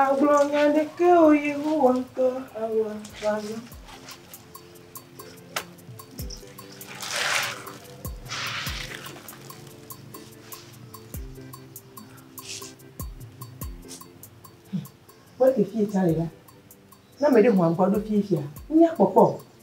Àgblɔ nya aɖeke o Yehowa ŋutɔ awɔ wòazɔ. Kpɔ ɖe fie tsã le la. Ne ame ɖe ho agbɔ ɖo fie fia, míakpɔkpɔ o.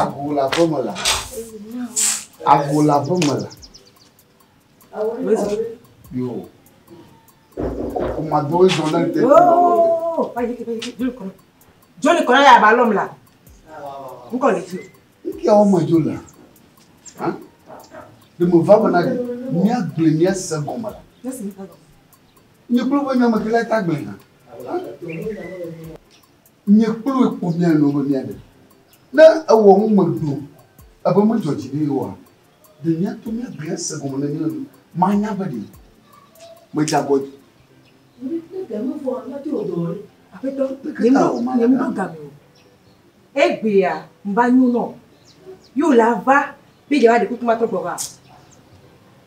Agbola ƒe me la. Agbola ƒe me la. Yo. Kuma do zɔ na te. Joli kɔnɔ ya ba lɔm la. Nkɔ le fi. Nkia wo me jo la. Ha? De me va bana de. Mia gbe mia se gɔme la. Nye klo be nyame kele ta gbe na. Míekplɔe kpo mía nɔewo be míaɖe. Ne ewɔ nu me do ebe medzɔ dzi ɖi oa, ɖe míato mía gbe ase gɔme ne míaɖe nu manya be ɖe medze agɔ dzi.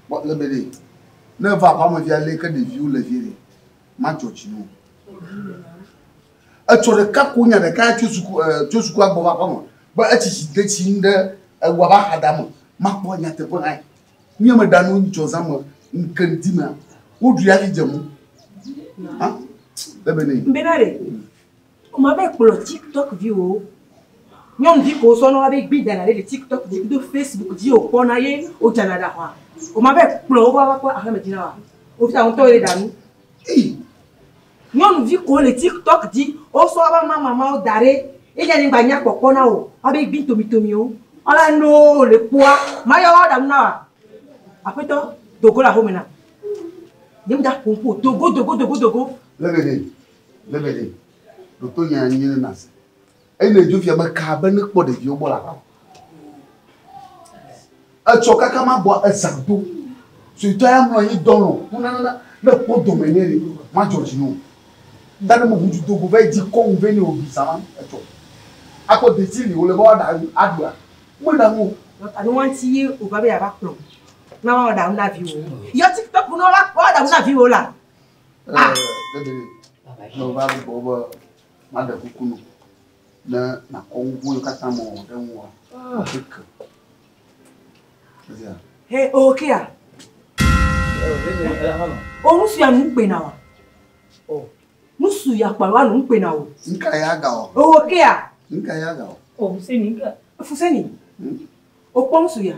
Kpɔ ale be ɖe ne eva aƒeamevia lé ke ɖeviwo le vie ɖe, madzɔ dzi na wo. Etsɔ ɖeka ko nya ɖeka tso suku e tso sukua gbɔ va aƒeme be etsi tsi de tsi nu ɖe eŋua va xada me makpɔ nyateƒe hã. Nye meɖa nu ŋtsɔ zã me ŋke ŋdi mea woɖui afi dze mu. Ha? Bebe ne. Bebe ne. Oma be kplɔ TikTok vi wo. Nyɔnu vi ko sɔ nɔ be gbi dana ɖe TikTok di kudo Facebook di o kpɔ na ye o dana da hwa. Oma be kplɔ wo va va kpɔ aƒeme di na wa. O fita ŋtɔ ye ɖa nu. Ei. Nyɔnuvi kowo le TikTok dzi wo sɔ aba mama mawo da ɖe ye dzi anyigba nya kpɔkpɔ na wo abe gbin tomitomiwo ɔla noo le kpoa maya wa ɖanu na wa aƒetɔ dogo le ahome na nye mi da ƒoƒo dogo dogo dogo dogo. Lebe de lebe de ɖoto nya nyi ne na se. Eyi ne dzofia be kaa be nekpɔ ɖeviwo gbɔ la va. Etsɔ kaka ma bɔ ezã do. Suetɔ ya mlɔ anyi dɔlɔ hunanana ne kpɔ dome nɛ ni madzɔ dzi no. Ta ne mo ŋutsu dogo vɛ dzi kɔ ŋu vɛ ni obi zã ma etsɔ. Akpɔ deti li wole be wa ɖa aɖua. Me ɖa ŋu. Anu wanti ye o va be ya va kplɔ. Na wa ɖa ŋu na vi wo. Yɔ ti pe kuno la wa ɖa ŋu na vi wo la. Ah. Baba yi. No va bo bo. Maɖe kuku nɔ ne nàkɔ nu vɔ̃ yiwo katã mewɔ ɖe ŋuwòa ƒe ke. Ezea. He okea. O nusu ya nu kpena wa. O nusu ya kpalo alo nu kpena o. Nka ya ga o. O okea. Nka ya ga o. O fuseni nka. Fuseni. Hmm? O kpɔ nusu ya.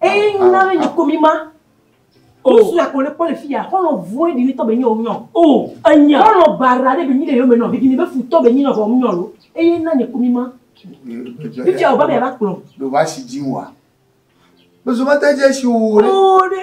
Eye ŋu na bɛ nyɔkɔ mi ma. Osu ya kò le kpɔ le fi ya, xɔlɔ vɔe ɖi tɔ bɛ nyɔ nyɔ. O, enya. Xɔlɔ bara ɖe bɛ nyi le yɔ mɛ nɔ, bɛ gini bɛ fu tɔ bɛ nyi nɔ vɔ nyɔ lo. Eye na nyɔkɔ mi ma. Fi fi ya o ba bɛ ya ba kplɔ. Ɖo va si dzi wa. Bɛ zɔ ma ta dze si wo ɖe. O ɖe.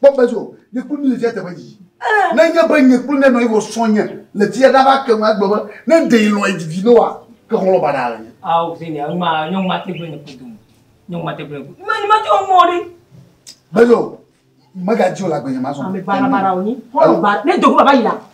Kpɔ be so nye kplu mi le fia teƒe dzi. Eh. Ne nye be nye kplu ne nɔ iwɔ sɔ nye le fia da va ke ŋu agbe be ne de ilɔ edzi vi noa ke xɔlɔ ba da le nye. Awo fi ne ma nyɔ ma te gbe ne kudu mu. Nyɔ ma te gbe ne kudu. Ma ma te omo ri. Be so me ga dzi o la gbe nye ma so. Ame bara bara o ni. Xɔlɔ ba ne dogo baba ila.